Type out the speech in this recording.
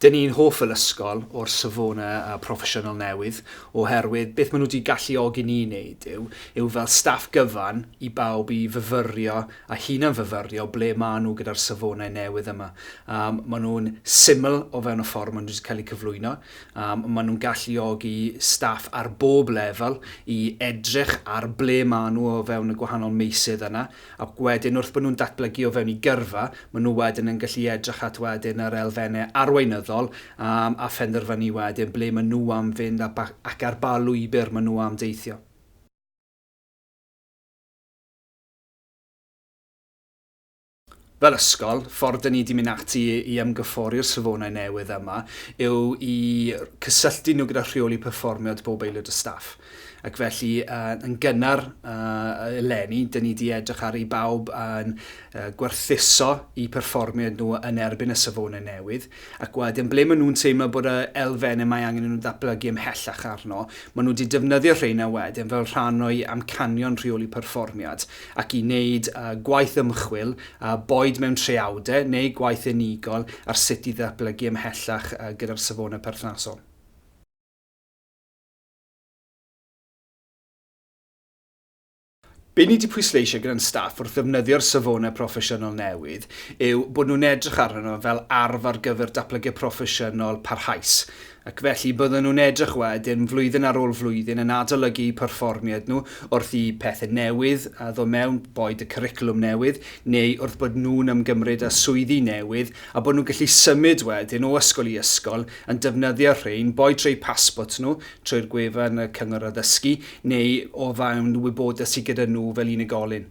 Dyn ni'n hoff fel ysgol o'r safonau a proffesiynol newydd oherwydd beth maen nhw wedi galluogi ni i wneud yw, yw fel staff gyfan i bawb i fyfyrio a hunan-fyfyrio ble maen nhw gyda'r safonau newydd yma. Maen nhw'n syml o fewn y ffordd maen nhw wedi cael eu cyflwyno. Mae maen nhw'n galluogi staff ar bob lefel i edrych ar ble maen nhw o fewn y gwahanol meysydd yna, ac wedyn wrth bod nhw'n datblygu o fewn eu gyrfa, maen nhw wedyn yn gallu edrych at wedyn yr elfennau arweinyddol am a phenderfynu wedyn ble maen nhw am fynd a ba ac ar ba lwybr maen nhw am deithio. Fel ysgol, ffordd dyn ni wedi mynd ati i ymgyffori'r safonau newydd yma yw i cysylltu nhw gyda rheoli perfformio at bob aelod o staff. Ac felly, yn gynnar eleni, dyn ni wedi edrych ar i bawb yn gwerthuso i perfformiad nhw yn erbyn y safonau newydd. Ac wedyn, ble maen nhw'n teimlo bod y elfennau mae angen i nhw ddatblygu ymhellach arno, maen nhw wedi defnyddio rheina wedyn fel rhan o'u amcanion rheoli perfformiad, ac i wneud gwaith ymchwil, boed mewn traeawdau neu gwaith unigol, ar sut i ddatblygu ymhellach gyda'r safonau perthnasol. Be ni 'di pwysleisio gyda'n staff wrth ddefnyddio'r safonau proffesiynol newydd yw bod nhw'n edrych arnyn nhw fel arf ar gyfer datblygiad proffesiynol parhaus, ac felly bydden nhw'n edrych wedyn, flwyddyn ar ôl flwyddyn, yn adolygu eu perfformiad nhw wrth i pethe newydd ddod mewn, boed y cwricwlwm newydd neu wrth bod nhw'n ymgymryd â swyddi newydd, a bod nhw'n gallu symud wedyn o ysgol i ysgol yn defnyddio rhein, boed trwy eu pasbort nhw trwy'r gwefan y Cyngor Addysgu neu o fewn wybodaeth sydd gyda nhw fel unigolyn.